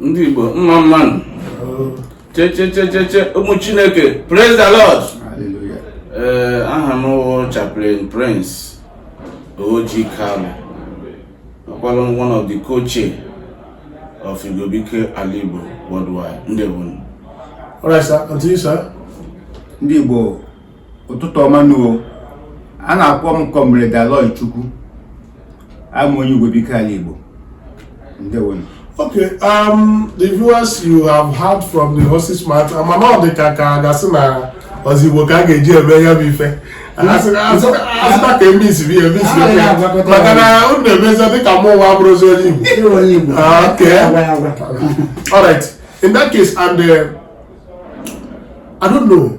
ndị Igbo mma mma nụ chechechecheche ụmụ Chineke praise the Lord ee eh, aha m wụ chaplain Prince Oji Kalu ọkwalụ one of the co-chairs of Igwebuike Ala Igbo worldwide ndị Igbo ndị Igbo ụtụtụ ọma nụ o a na-akpọ m Comrade Aloy Chukwu abụ m onye Igwebuike ala Igbo ndewo nụ Okay, um, the viewers you have heard from the horse's mouth, mana ọ dị ka ka a ga-asị na ọ bụzi Igbo ka a ga-eji eme ya bụ ife asịta ka e mixbe e mix maka na unu na-emezi dịka mụ nwa abụrọzi onye Igbo ah, okay all right in that case and uh, I don't know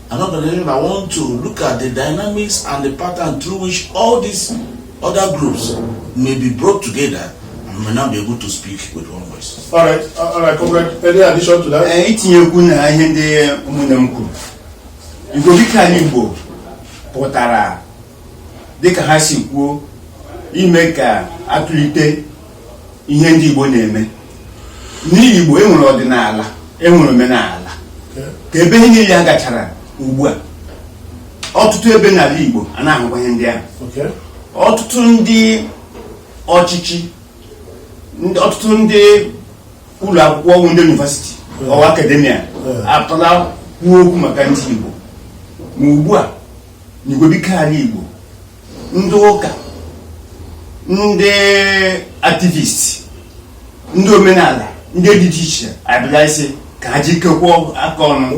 stand as an organization that want to look at the dynamics and the pattern through which all these other groups may be brought together and may now be able to speak with one voice. All right, uh, all right, comrade. Any addition to that? Eh, itinyekwu na ihe ndị ụmụnne m kwuru Igwebuike Ala Igbo pụtara dịka ha si kwuo ime ka a tulite ihe ndị Igbo na-eme n'Igbo enwere ọdịnala enwere omenala ka ebe ihe niile a gachara ugbu a ọtụtụ ebe n'ala Igbo a na-ahụkwa ihe ndị ahụ ọtụtụ ndị ọchịchị ọtụtụ ndị ụlọ akwụkwọ ukwu ndị university or academia apụtala kwuo okwu maka ndị Igbo ma ugbu a n'Igwebuike ala Igbo ndị ụka ndị activist ndị omenala ndị dị iche iche abịala ịsị ka ha jikọkwa aka ọnụ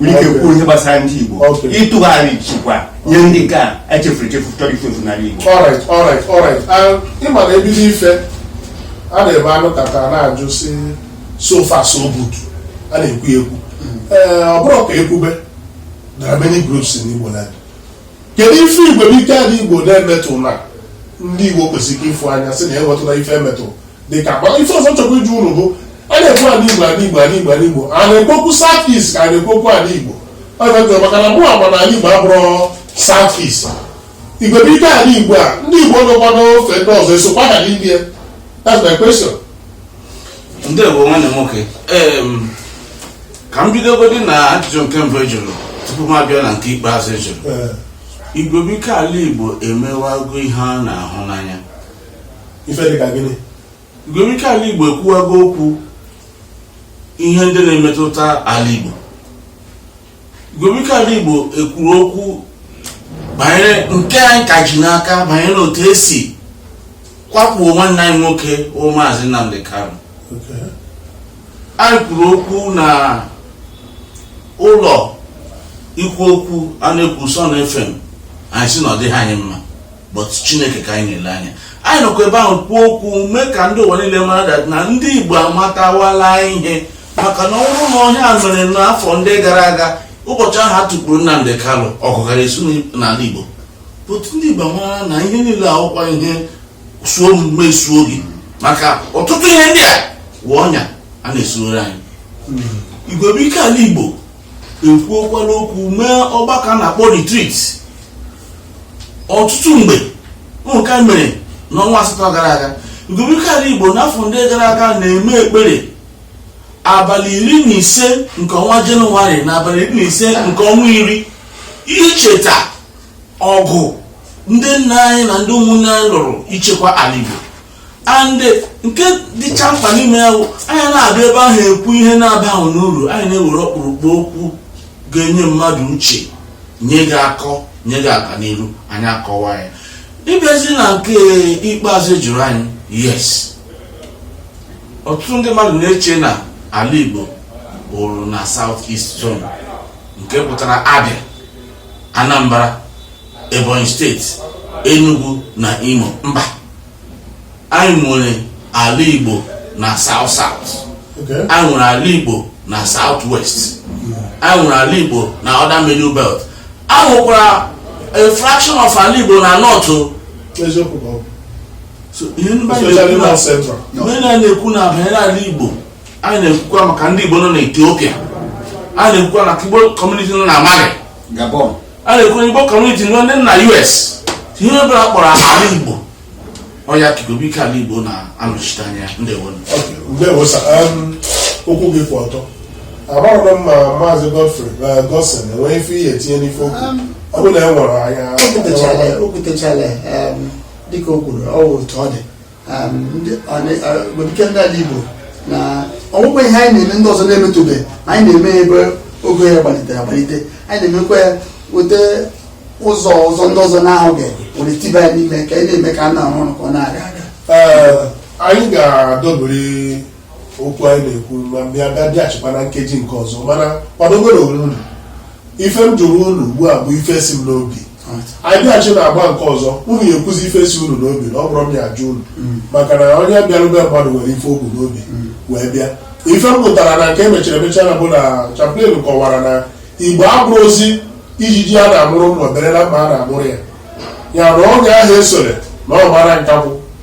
nwere ike kwuo ihe gbasara ndị Igbo Okay. ịtụgharị chekwaa ihe ndị ka echefuru echefu chọrọ ifu efu n'ala Igbo alright alright alright Ah, ị ma na e bido ife a na-eme a nọkata na-ajụ sị so far so good a na-ekwu ya ekwu ee ọ bụrụ ka ekwube There are many groups in Igbo land. Kedu ife Igwebuike Ala Igbo na-emetụ na ndị Igbo kwesịrị ịfụ anya sị na ya enwetụla ife emetụ dị ka mana ife ọzọ chọkwa ịjụ unu bụ a na-ekwu ala Igbo ala Igbo ala Igbo ala Igbo a na-ekwu okwu South East ka a na-ekwu okwu ala Igbo ọ na-ekwu maka na mụ ama na ala Igbo abụrọ South East Igwebuike ala Igbo a ndị Igbo nọkwa n'ofe ndị ọzọ esokwa ha n'ime that's my question. Ndewo nwanne m nwoke. Em, ka m bidogodi na ajụjụ nke mbụ ị jụrụ tupu m abịa na nke ikpeazụ ị jụrụ Ee, igwebuike ala igbo emewago ihe a na-ahụ n'anya ife dị ka gịnị igwebuike ala igbo ekwuwago okwu ihe ndị na-emetụta ala igbo igwebuike ala igbo ekwuru okwu banyere nke anyị ka ji n'aka banyere otu e si kwakpuo nwanne anyị nwoke bụ maazị nnamdi kanu Okay. anyị kwuru okwu na ụlọ ikwu okwu a na-ekwu Sun FM anyị sị na ọ dịghị anyị mma but Chineke ka anyị na-ele anya anyị nọkwa ebe ahụ kwuo okwu mee ka ndị ụwa niile mara that na ndị Igbo amatawala ihe maka na ọ bụrụ na ọ ihe a mere n'afọ ndị gara aga ụbọchị ahụ a tụkpuru Nnamdi Kanu ọgụ gara esu n'ala Igbo but ndị Igbo mara na ihe niile awụkwa ihe suo m mesuo gị maka ọtụtụ ihe ndị a wụ ọnya a na-esuoro anyị igwebuike ala igbo ekwuokwala okwu mee ọgbakọ a na-akpọ retreat ọtụtụ mgbe nke a mere n'ọnwa asatọ gara aga igwebuike ala igbo n'afọ ndị gara aga na-eme ekpere abalị iri na ise nke ọnwa jenụwarị na abalị iri na ise nke ọnwa iri icheta ọgụ ndị nna anyị na ndị ụmụnne anyị lụrụ ichekwa ala Igbo and nke dịcha mkpa n'ime ya bụ anyị anaghị abịa ebe ahụ ekwu ihe na-abaghị n'uru anyị na-ewere ọkpụrụkpụ okwu ga-enye mmadụ uche nye gị akọ nye gị aga n'iru anyị akọwa ya ịbịazi na nke ikpeazụ ị jụrụ anyị yes ọtụtụ ndị mmadụ na-eche na ala Igbo bụrụ na South East Zone nke pụtara Abia Anambra Ebonyi steeti Enugu na Imo mba anyị nwere ala Igbo na South South anyị nwere ala Igbo na South West anyị nwere ala Igbo na other middle belt anyị nwekwara a fraction of ala Igbo na north so ihe ndị na-ekwu na banyere ala Igbo anyị na-ekwukwa maka ndị Igbo nọ na Ethiopia anyị na-ekwukwa maka Igbo community nọ na Mali anyị na-ekwu Igbo community nọ na US ihe ọ bụla kpọrọ ala Igbo ọ ya ka igwebuike ala Igbo na-anọchite anya ndewo okwu gị kwụ ọtọ amaghị m ma maazị Godfrey uh, Godson enweghị ife ihe etinye n'ife okwu um, ọ bụ na e nwere anya o kwutechala um, dịka o kwuru ọ bụ otu ọ dị Igbo na ọ wụkwa ihe anyị na-eme ndị ọzọ na-emetụbe ma anyị na-eme ebe ogo ya gbalitere agbalite anyị na-emekwa ya weta ụzọ ọzọ ndị ọzọ na-ahụghị were tiba ya n'ime ka anyị na-eme ka a na-arụ ọrụ ka ọ na-aga aga anyị ga-adọbiri okwu anyị na-ekwu ma bịa bịachikwa na nkeji nke ọzọ mana kwadogoro onwe unu ife m jụrụ unu ugbu a bụ ife si m n'obi anyị bịachi na agba nke ọzọ unu ya-ekwuzi ife si unu n'obi na ọ bụrọ m ya-ajụ unu mm. maka na onye bịaru be mmadụ nwere ife o bu n'obi mm. wee bịa ife m pụtara na nke emechara emecha na bụ na chaplain kọwara na Igbo abụrọzi ijiji a na-amụrụ mma obere na mma a na-amụrụ ya ya na oge ahụ esore na ọ mara nkakwụ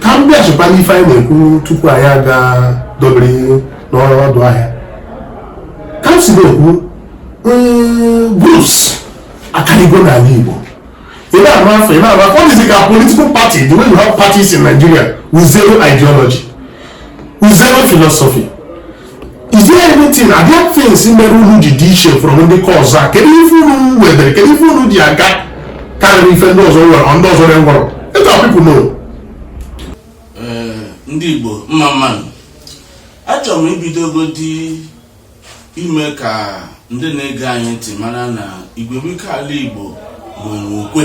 ka m bịachikwa n'ife anyị na-ekwu tupu anyị aga dobiri n'ọdụ ahịa ka m si na-ekwu groups akarịgo n'ala Igbo ị na-arụ afọ ị na-arụ afọ ọ dịzi ka political party the way you have parties in Nigeria with zero ideology with zero philosophy is there anything are there things mere unu ji dị iche from ndị nke ọzọ a kedu ife unu wedere kedu ife unu ji aga karịrị ife ndị ọzọ nwere ndị ọzọ na-enwerọ let our people know eh, ndị Igbo mma mma nụ achọrọ m ibidogodi ime ka ndị na-ege anyị ntị mara na Igwebuike ala Igbo nwere okwe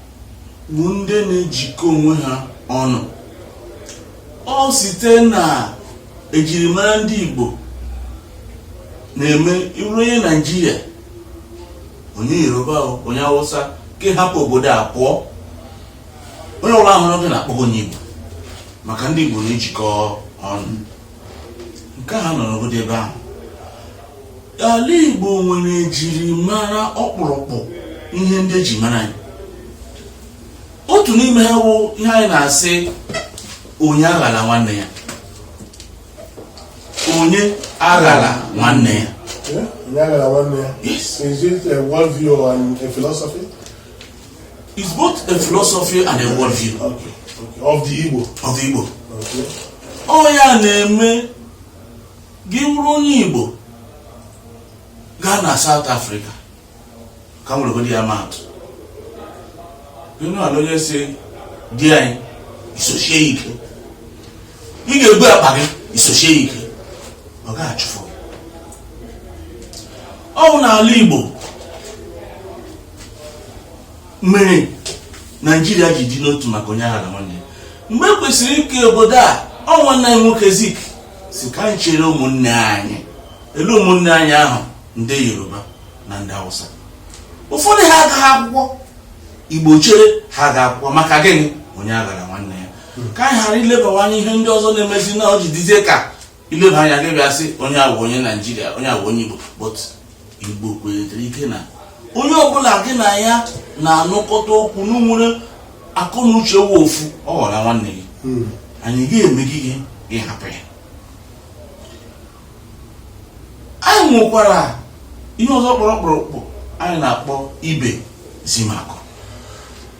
bụ ndị na-ejikọ onwe ha ọnụ ọ site na ejirimara ndị Igbo na-eme ị wụrụ onye Naijiria onye Yoruba onye Hausa nke hapụ obodo a pụọ onye ọbụla hụrụ gị na-akpọ gị onye Igbo maka ndị Igbo na-ejikọ ọnụ nke ha nọ n'obodo ebe ahụ ala Igbo nwere ejirimara ọkpụrụkpụ ihe ndị eji mara anyị otu n'ime ha bụ ihe anyị na-asị onye aghala nwanne ya onye aghala nwanne ya onye aghala nwanne ya is it a world view and a philosophy it's both a philosophy and a world view okay. Okay. of the Igbo of the Igbo okay. ọ ya na-eme gị wụrụ onye Igbo gaa na South Africa ka m weregodi ya maatụ ala onye si di anyị isochie ike ị ga-ebu akpa gị isochie ike ọ ga-achụfụ ọ bụ n'ala Igbo mere Naijiria ji dị n'otu maka onye aghala nwanne mgbe e kwesịrị ike obodo a ọ wụ nna nwoke Zik sị ka anyị chere ụmụnne anyị elee ụmụnne anyị ahụ ndị yoruba na ndị hausa ụfọdụ ha agaghị akwụkwọ igbo chere ha ga akwụkwọ maka gịnị onye aghara nwanne ya ka anyị ghara ilebawa anya ihe ndị ọzọ na-emezi na o ji dịzie ka i leba anya gị bịa sị onye a wụ onye naijiria onye a wụ onye igbo but Igbo kwenyetara ike na onye ọbụla gị na ya na-anụkọta okwu unu nwere akọ na uche wụ ofu ọ ghọrọ nwanne gị hmm. anyị ga-eme gị gị ịhapụ ya anyị nwekwara ihe ọzọ kpọrọ ọkpụrụkpụ anyị na-akpọ ibe zimakọ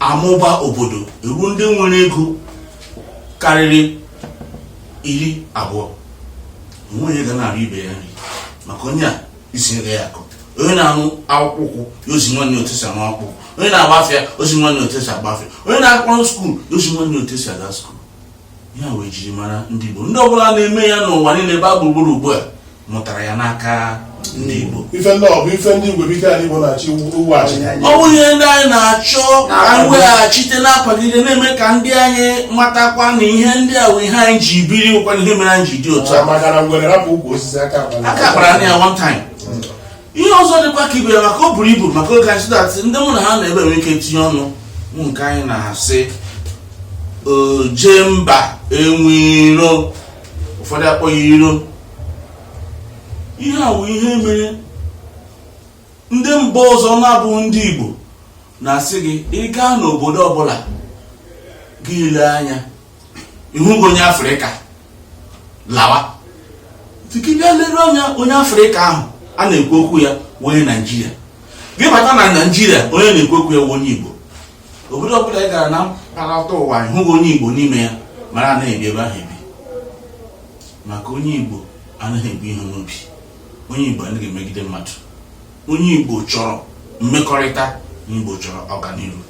amụba obodo e nwee ndị nwere ego karịrị iri abụọ o nweghị onye ga na-arịọ ibe ya nri maka onye ezi ibe ya akọ onye na-arụ akpụkpọ ụkwụ ya ezi nwanne otu e si arụ akpụkpọ ụkwụ onye na-agba afịa ezi nwanne otu e si agba afịa onye na-akpọrọ skuul ya ezi nwanne otu e si aga skuul ya wụ ejirimara ndị Igbo ndị ọbụla na-eme ya n'ụwa niile gbaa gburugburu ugbu a mụtara ya n'aka ndị Igbo ife ndị a bụ ife ndị Igwebuike ala Igbo na-achọ iweghachi ọ bụ ihe ndị anyị na-achọ ka anyị weghachite na-akwagide na-eme ka ndị anyị matakwa na ihe ndị a wụ ihe anyị ji biri wụkwanụ ihe mere anyị ji dị otu a aka akpara ya one time ihe ọzọ dịkwa ka ibe ya maka o buru ibu maka oge anyị so that ndị mụ na ha nọ ebe a enwee ike tinye ọnụ wụ nke anyị na-asị oje mba enwe iro ụfọdụ akpọọ ya iro ihe a bụ ihe mere ndị mba ọzọ na-abụghị ndị Igbo na-asị gị ị gaa n'obodo ọbụla gị elee anya ịhụghị onye afrịka lawa but gị bịa lere anya onye afrịka ahụ a na-ekwu okwu ya wụ onye naijiria gị bata na naijiria onye a na-ekwu okwu ya wụ onye igbo obodo ọbụla ị gara na mpaghara ụwa ịhụghị onye igbo n'ime ya mara na anaghị ebi ebe ahụ ebi maka onye igbo anaghị ebu ihe n'obi onye igbo anaghị emegide mmadụ onye igbo chọrọ mmekọrịta onye igbo chọrọ ọganihu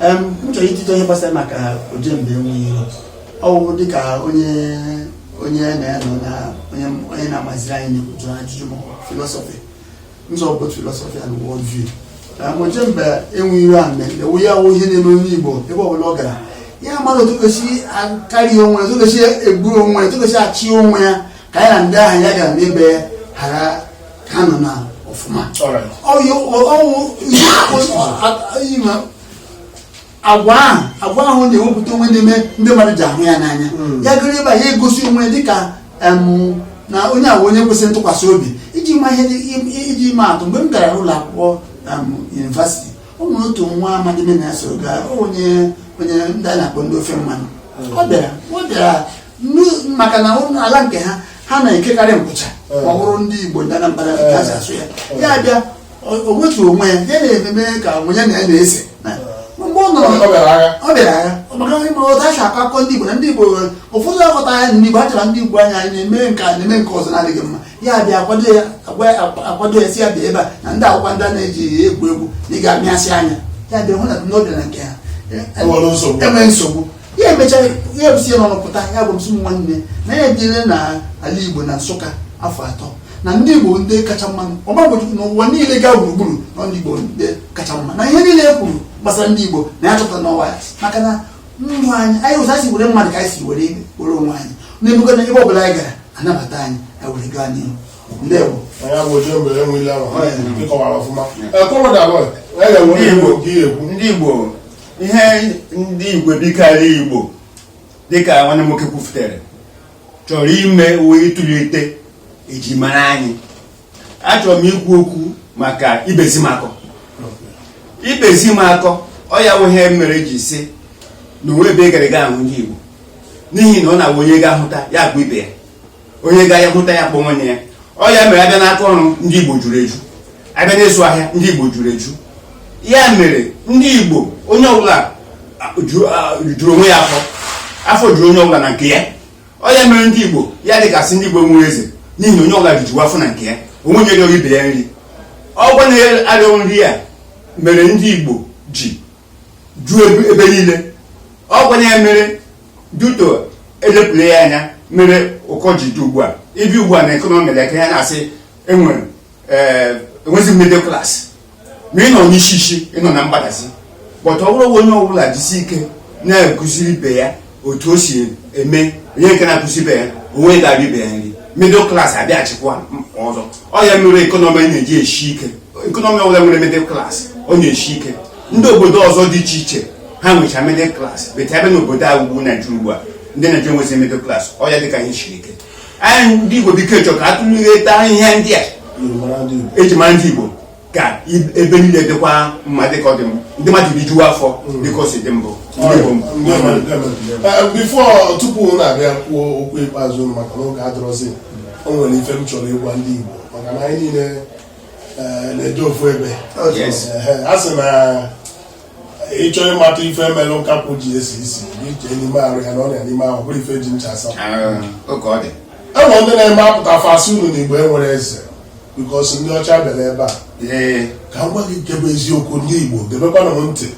m chọrọ itinye ọnụ gbasara maka oje mba enwe iro ọ wụ dịka onye onye na-enọ na onye na-amaziri anyị na-ekwuju ajụjụ ma philosophy nzọ bụ philosophy and world view na oje mba enwe iro a na-ekwu ya wụ ihe na-eme onye Igbo ebe ọbụla ọ gara ya amara otu ọ ga-esi a-carry onwe ya otu ọ ga-esi eburu onwe ya otu ọ ga-esi achị onwe ya ka ya na ndị ahụ ya gara na be ha ka a nọ na ọfụma agwa ahụ agwa ahụ na-ewepụta onwe na-eme ndị mmadụ ji ahụ ya n'anya hmm. ya garuo ebe ya egosi onwe dịka na onye ahụ onye kwesịrị ntụkwasị obi iji ma ihe iji ma atụ mgbe m gara ụlọ akwụkwọ university o nwere otu nwa amadi mụ na ya so gaa onye onye ndị a na-akpọ ndị ofe mmanụ hmm. ọ bịara ọ bịara maka na ala nke ha ha na-ekekarị nkwụcha eh. ma ọ bụrụ ndị Igbo ndị Anambra ka ha si asụ ya eh. ya bịa o wetu onwe ya ya na-ememe ka onye ya na ya na-ese eh. mgbe ọ nọrọ ọ bịara agha maka ị ma otu a si akọ akọ ndị Igbo na ndị Igbo ụfọdụ aghọta ya ndị Igbo achara ndị Igbo anya anyị na-eme nke a na-eme nke ọzọ na-adịghị mma ya bịa akwado ya akwado ya si ya bịa ebe a na ndị akwụkwọ ndị a na-eji egwu egwu na ị ga-amịasị anya ya bịa hụ na n'obi na nke ha enwere nsogbu ya emecha ya ebuzi ya n'ọnụ pụta ya gwa m sị m nwanne na ya ebiele na ala igbo na nsụka afọ atọ na ndị igbo ndị kacha mma ọgbagbochukwu n'ụwa niile gaa gburugburu na ndị igbo ndị kacha mma na ihe niile e kwuru gbasara ndị igbo na ya chọpụta n'onwe ya maka na ndụ anyị anyị ụzọ anyị were mmadụ ka anyị si were were onwe anyị na-ebuga na ebe ọbụla anyị gara anabata anyị anyị were gaa n'ihu ndewo onye bụ oche mgbe enwe ile ahụ ịkọwara ọfụma ndị igbo ihe ndị igwebuike alaigbo dịka nwanne nwoke kwufutere chọrọ ime wụ ịtụlite eji mara anyị achọrọ m ikwu okwu maka ibezimakọ ibezimakọ ọ ya wụ ihe mere e ji si na o nwe ebe ị gara ị ga-ahụ ndị igbo n'ihi na ọ na-awụ onye ga-ahụta ya kpọ ibe ya onye ga ya hụta ya kpọ nwanne ya ọ ya mere a bịa n'aka ọrụ ndị Igbo juru eju a bịa n'ịzụ ahịa ndị Igbo juru eju ya mere ndị Igbo onye ọbụla juru onwe ya afọ afọ juru onye ọbụla na nke ya ọ ya mere ndị Igbo ya dịka a sị ndị Igbo enwe eze n'ihi na onye ọbụla rijuwa afọ na nke ya o nwe onye rịọrọ ibe ya nri ọgwa na-arịọ nri ya mere ndị Igbo ji ju ebe niile ọ gwanye ya mere duto elepụla ya anya mere ụkọ ji dị ugbu a ị bịa ugbu a na economy nke a na-asị enwere enwezi middle class ma ị nọ n'isi isi ị nọ na mgbadazi but ọ bụrụ onye ọbụla jisi ike na-ekụziri ibe ya otu o si eme onye nke na-akụzi ibe ya onwe ga-abịa ibe ya nri middle class abịaghachikwa ọzọ ọ ya mere economy na-eji eshi ike economy ọbụla nwere middle class ọ na-eshi ike ndị obodo ọzọ dị iche iche ha nwecha middle class but a bịa n'obodo a bụ naijiria ugbu a ndị naijiria enwezi middle class ọ ya dịka ihe siri ike anyị ndị igwebuike chọ ka atụlụgheta ihe ndị a eji mara ndị igbo ka ebe niile dịkwa mma dịka ọ dị m ndị mmadụ rijuwa afọ mm. dịka o si dị mbụ before tupu na-abịa kwuo okwu ikpeazụ maka na oge adịrọzi o nwere ife m chọrọ ịgwa ndị Igbo maka na anyị niile eh, na-eje ofu ebe eh, a sị na ị chọọ ịmata ife mere nkakwụ ji esi isi gị chee n'ime arụ ya na ọrịa n'ime ahụ bụrụ ife ji ncha asa enwere ndị na-eme apụta fa sị unu na igbo enwerọ eze before ndị ọcha bịara ebe a ka m gwa gị nke bụ eziokwu ndị igbo gebekwanụ m ntị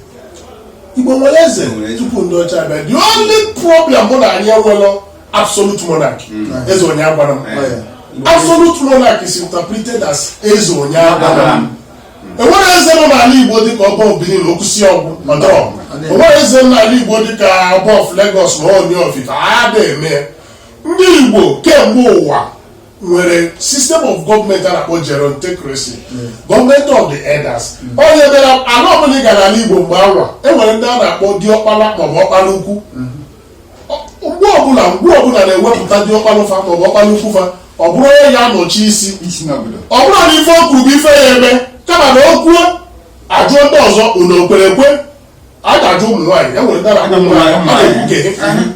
igbo nwere eze tupu ndị ọcha bịa the only problem bụ na anyị enwelọ absolute monarchy hmm. eze onye agwala m absolute monarchy is interpreted as eze onye agwala m enwerọ eze nọ n'ala igbo dịka ọba of Benin okwusi ọgwụ ma dọọ enwerọ eze nọ n'ala igbo dịka ọba of Lagos na Ooni of Ife a da eme ya ndị igbo kemgbe ụwa nwere system of government a na-akpọ gerontocracy government of the elders ọ ya mere ala ọbụla ị gara n'ala igbo mgbe anwa enwere ndị a na-akpọ diọkpala maọbụ ọkpala ukwu ogbe ọbụla ogbe ọbụla na-ewepụta diọkpala fa ma ọ bụ ọkpala ukwu fa ọ bụrụ onye ya-anọchi isi ọ bụrọ na ife o kwuru bụ ife a ya-eme kama na o kwuo a jụọ ndị ọzọ unu okwere ekwe a ga-ajụ ụmụ nwaanyị enwere ndị na-ajụ ụmụ nwaanyị ha na-ekwu ka ihe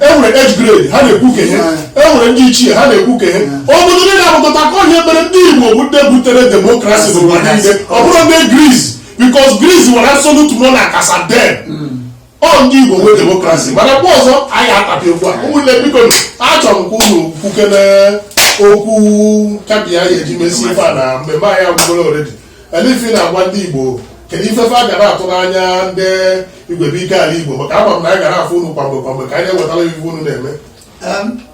enwere age grade ha na-ekwu ka ihe enwere ndị ichie ha na-ekwu ka ihe obodo ndị na-abụkọta ka ọ ya mere ndị Igbo bụ ndị butere demokrasi n'ụwa niile ọ bụrọ ndị Greece because Greece nwere absolute monarch as at then ọ ndị Igbo nwee demokrasi mana mgbe ọzọ anyị atapịa okwu a ụmụnne biko achọrọ m ka unu kwukene okwu kabi ya-eji mesi ife a na mmemme anyị agwụgoro already olee ife ị na-agwa ndị Igbo kedu ife fa ga na-atụ n'anya ndị Igwebuike ala Igbo maka ama m na anyị ga na-afụ unu kwamgbe kwamgbe ka anyị ewetara ife unu na-eme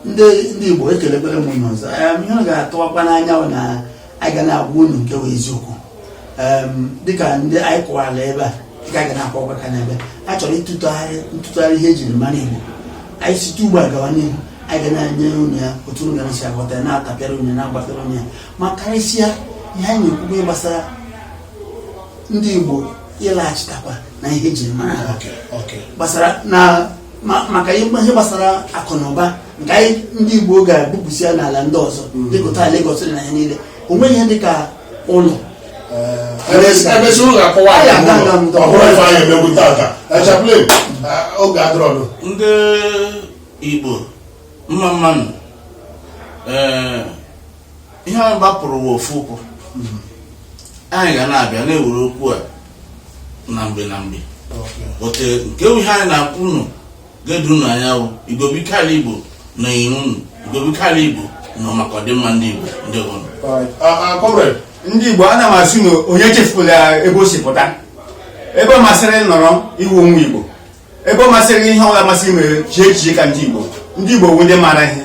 ndị Igbo ekelekwere m unu ọzọ ihe unu ga-atụwakwa n'anya na anyị ga na-agwa unu nke bụ eziokwu dịka ndị anyị kwuwara ebe a dịka a ga na-akọwakwa ka n'ebe a chọrọ ịtụtụgharị ntụtụgharị ihe ejiri mara Igbo anyị site ugbu a gawa n'ihu anyị ga na-enye unu ya otu unu ga-esi aghọta na-atapịara unu na-agbafere unu ya ma karịsịa ihe anyị na-ekwukwe gbasara ndị Igbo ịlaghachitakwa na ihe ejiri mara ha gbasara na maka ihe gbasara akụ na ụba nke anyị ndị Igbo ga-ebupụsi ya n'ala ndị ọzọ mm. dịkụta Lagos na ihe niile o nweghị ihe dịka ụlọ emesi ụlọ akọwa ọhụrụ ife anyị emegbu tata echaplin oge adịrọdụ ndị Igbo mma mmanụ ee ihe anyị gbapụrụ bụ ofu ụkwụ anyị ga na-abịa na-ewere okwu a na mgbe na mgbe but nke ihe anyị na-akọ unu ga-edo unu anya bụ Igwebuike ala igbo nọnyeere unu Igwebuike ala igbo nọ maka ọdịmma ndị igbo ndewonụ comrade ndị igbo ana m asị na onye chefula ebe o si pụta ebe ọ masịrị nọrọ ị wụ onye igbo ebe ọ masịrị ihe ọbụla masị mee chee echiche ka ndị Igbo ndị Igbo wụ ndị mara ihe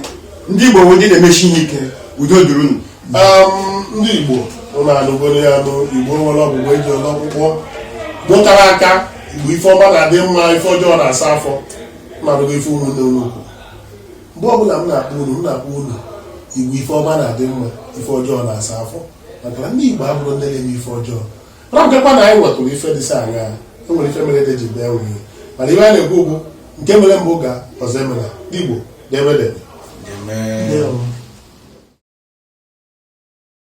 ndị Igbo wụ ndị na-emeshi ihe ike udo dịrị unu ndị Igbo unu anụgoro ya nụ Igbo nwere ọgwụgwọ eji ọlọ ọkpụkpọ mụtara aka Igbo ife ọma na-adị mma ife ọjọọ na-asa afọ na-anụgo ife mụ na-ekwu mgbe ọbụla m na-akpọ unu m na-akpọ unu Igbo ife ọma na-adị mma ife ọjọọ na-asa afọ maka na ndị Igbo abụrọ ndị na-eme ife ọjọọ ọ bụkwa na anyị nwetụrụ ife dịsị anya e nwere ife mere eji bee nwunye mana ife a na-ekwu bụ nke mere mbụ ga ọzọ emela ndị Igbo debe debe